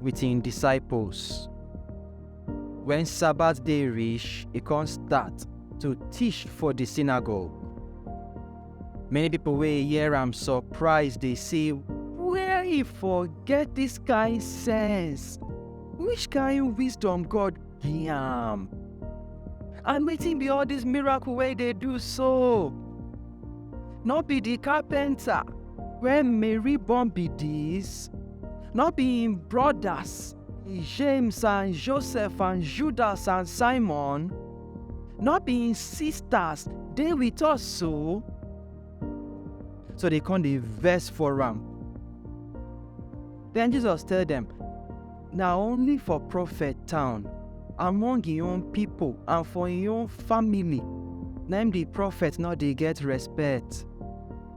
wit im disciples. Wen Sabbath day reach, e kon start to teach for di synagogue. Many pipo wey hear am surprise dey say, Where e for get dis kain sense? Which kain wisdom God gi am? And wetin be all dis miracle wey e dey do so? Nor be di carpenter? Where Mary born be this? No be im brothers, James and Joseph and Judas and Simon? No be im sisters dey with us so? So they come dey vex for am. Then Jesus tell them, Na only for prophet town, among im own people and for im own family, na im the prophet no dey get respect.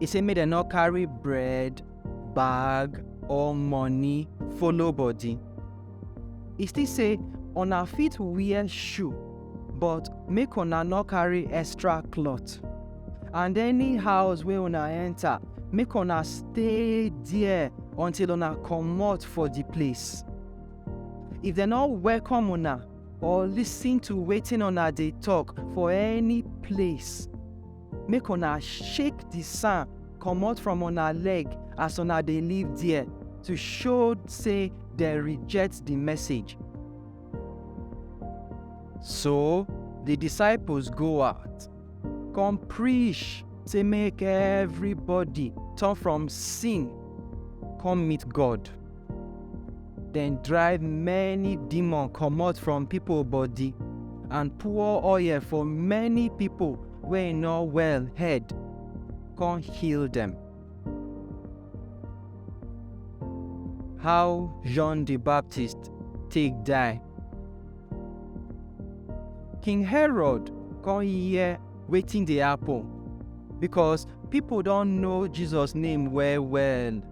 e say make dem no carry bread bag or money follow body e still say una fit wear shoe but make una no carry extra cloth and any house wey una enter make una stay there until una comot for the place if dem no welcome una or listen to wetin una dey talk for any place make una shake di sand comot from una leg as una dey live there to show say dem reject di message. So, di disciples go out, come preach say make everybody turn from sin come meet God. Dem drive many demon comot from pipo body and pour oil for many pipo wey no well head, con heal dem. How John di Baptist take die? King Herod con hear wetin dey happen, becos pipo don know Jesus name well-well.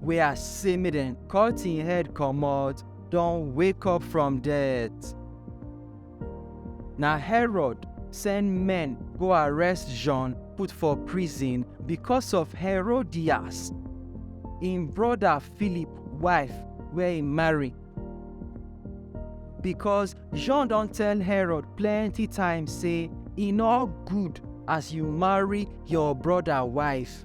wey I say make dem cut im head comot, don wake up from death. Na Herod send men go arrest John put for prison because of Herodias, im brother Philip wife wey e marry. Because John don tell Herod plenty times say e no good as you marry your brother wife.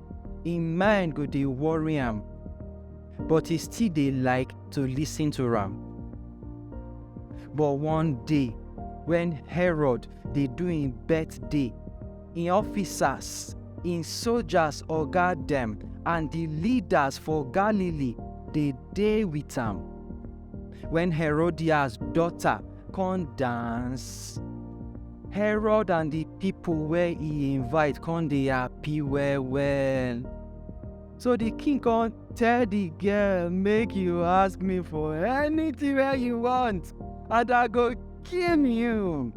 im mind go dey worry am, but he still dey like to listen to am. But one day, when Herod dey do im birthday, im officers, im soldiers oga dem, and the leaders for Galilee dey dey with am. When Herodias daughter come dance herod and the people wey he invite come dey happy well well so the king come tell the girl make you ask me for anything wey you want and i go kill you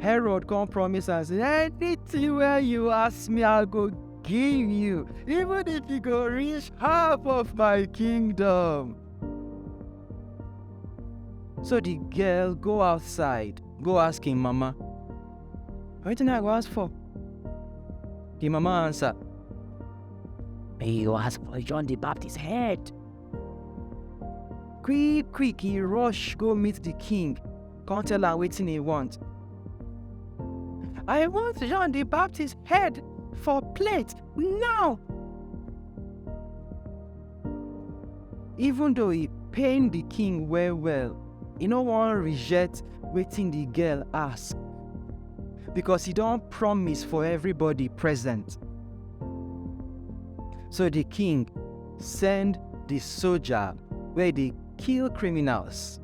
herod come promise am say anything wey you ask me i go give you even if e go reach half of my kingdom So the girl go outside, go ask him mama. Wetin I go ask for? The mama answer. He go ask for John the Baptist head. Quick, quick, he rush go meet the king. Come tell am wetin he want. I want John the Baptist head for plate now. Even though e pain the king well well, e no wan reject wetin the girl ask because e don promise for everybody present. So the king send the soldier wey dey kill criminals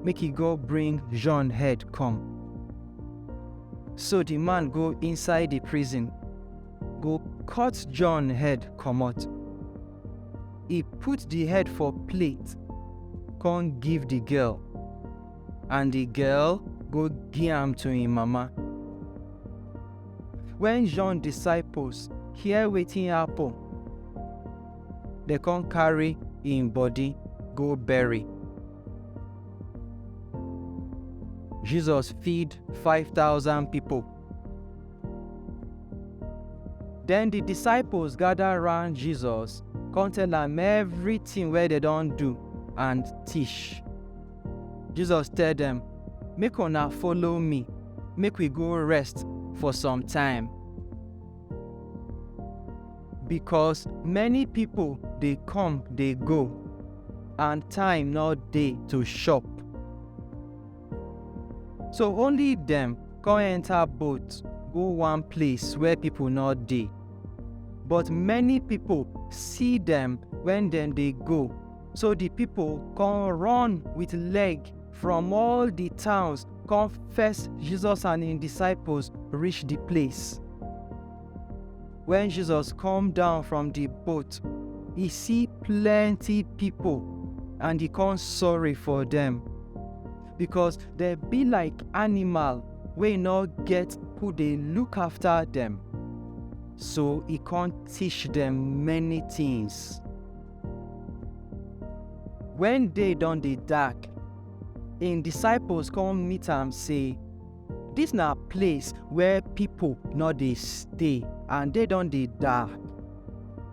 make e go bring Jean head come. So the man go inside the prison go cut John head comot. E put the head for plate, con give the girl, and the girl go give am to im mama. When John disciples hear wetin happen, dem con carry im body go bury. Jesus feed 5,000 people. Den di disciples gada round Jesus kon tell am evritin wey dem don do and tish. Jesus tell dem, Make una follow mi, make wi go rest for some time. Bikos many pipol dey kom dey go and time nor dey to shop. So only dem come enter boat go one place where people no dey. But many people see dem when dem dey go, so the people come run with leg from all the towns come fetch Jesus and im disciples reach the place. Wen Jesus come down from di boat, e see plenty pipo and e come sorry for dem, becos dem be like animal wey nor get who dey look afta dem. So e come teach dem many tins. Wen day don dey dark, im disciples come meet am sey. Dis na place where pipo nor dey stay and dey don dey die.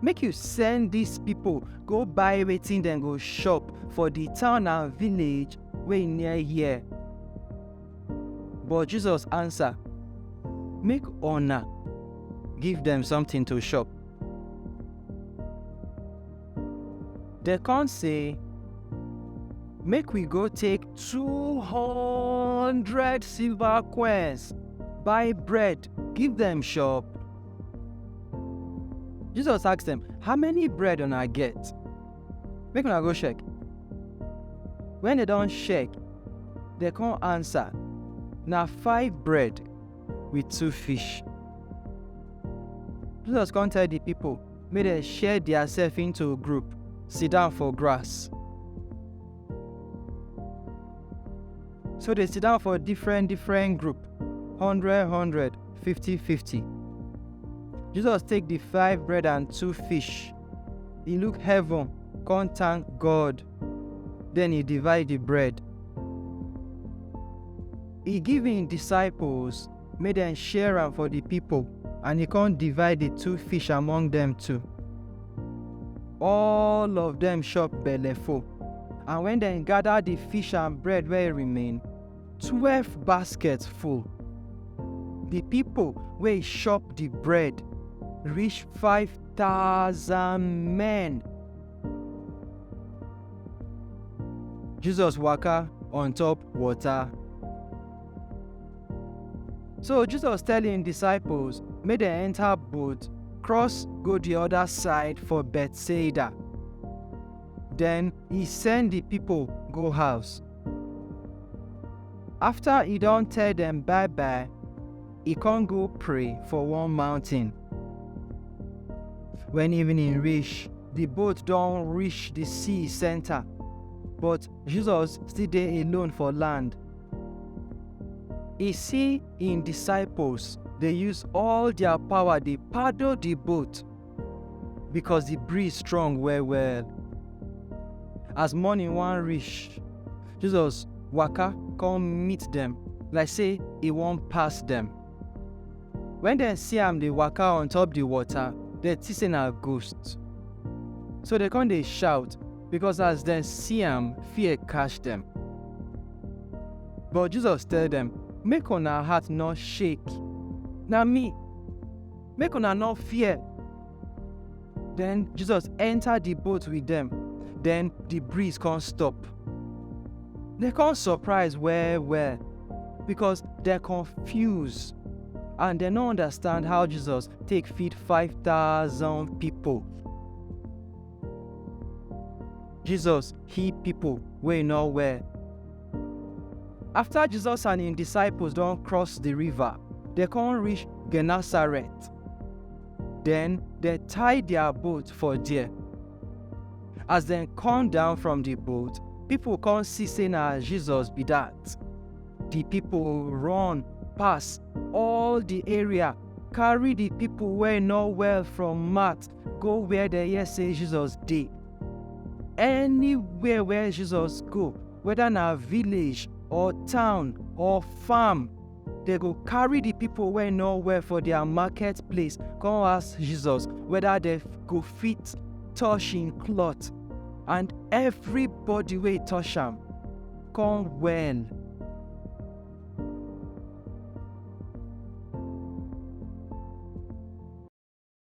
Make yu send dis pipo go buy wetin dem go shop for di town and village wey near here. But Jesus ansa, Make una give dem somtin to shop. Dem come say, Make we go take two hundred silver coins, buy bread, give dem chop. Jesus ask dem, How many bread una get? Make una go check. Wen dem don check, dem come answer, Na five bread with two fish. Jesus come tell di pipo, Make dem share diasef into group, sidan for grass. So dey sidan for diffren diffren group, hundred hundred, fifty fifty. Jesus take di five bread and two fish, e look heaven kon tank God, den e divide di bread, e give im disciples. Make dem share am for di pipol. And e kon divide di two fish among dem two. All of dem chop beleful. And wen dem gada di fish and bread wey remain, twelf basket full. Di pipol wey chop di bread rish five tousan men. Jesus waka on top wota. So Jesus tell im disciples make dem enter boat, cross go the other side for Bethsaida. Then he send the people go house. After he don tell them bye bye, he come go pray for one mountain. When evening reach, the boat don reach the sea center, but Jesus still dey alone for land. E see im disciples dey use all their power dey paddle the boat because the breeze strong well well. As morning wan reach, Jesus waka come meet dem like say e wan pass dem. When dem see am dey waka on top the water, dem think say na ghost. So dem come dey shout, because as dem see am, fear catch dem. But Jesus tell dem, Make una heart no shake. Na me. Make una no fear. Then Jesus enter the boat with them. Then the breeze come stop. They come surprise well well because they're confused and they no understand how Jesus take feed 5,000 people. Jesus heal pipo wey no well. Afta Jesus and im disciples don cross di river, dem come reach Gennesaret. Den, dem tie dia boat for there. As dem come down from di boat, pipo come see sey na Jesus be dat. Di pipo run pass all di area, carry di pipo wey no well from mat go where dem hear say jesus dey anywhere where jesus go whether na village or town or farm dem go carry the people wey no well for their market place come ask jesus whether dem go fit touch him cloth and everybody wey touch am come well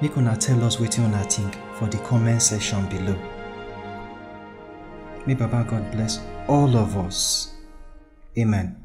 Make una tell us wetin una think for the comment section below. May Baba God bless all of us. Amen.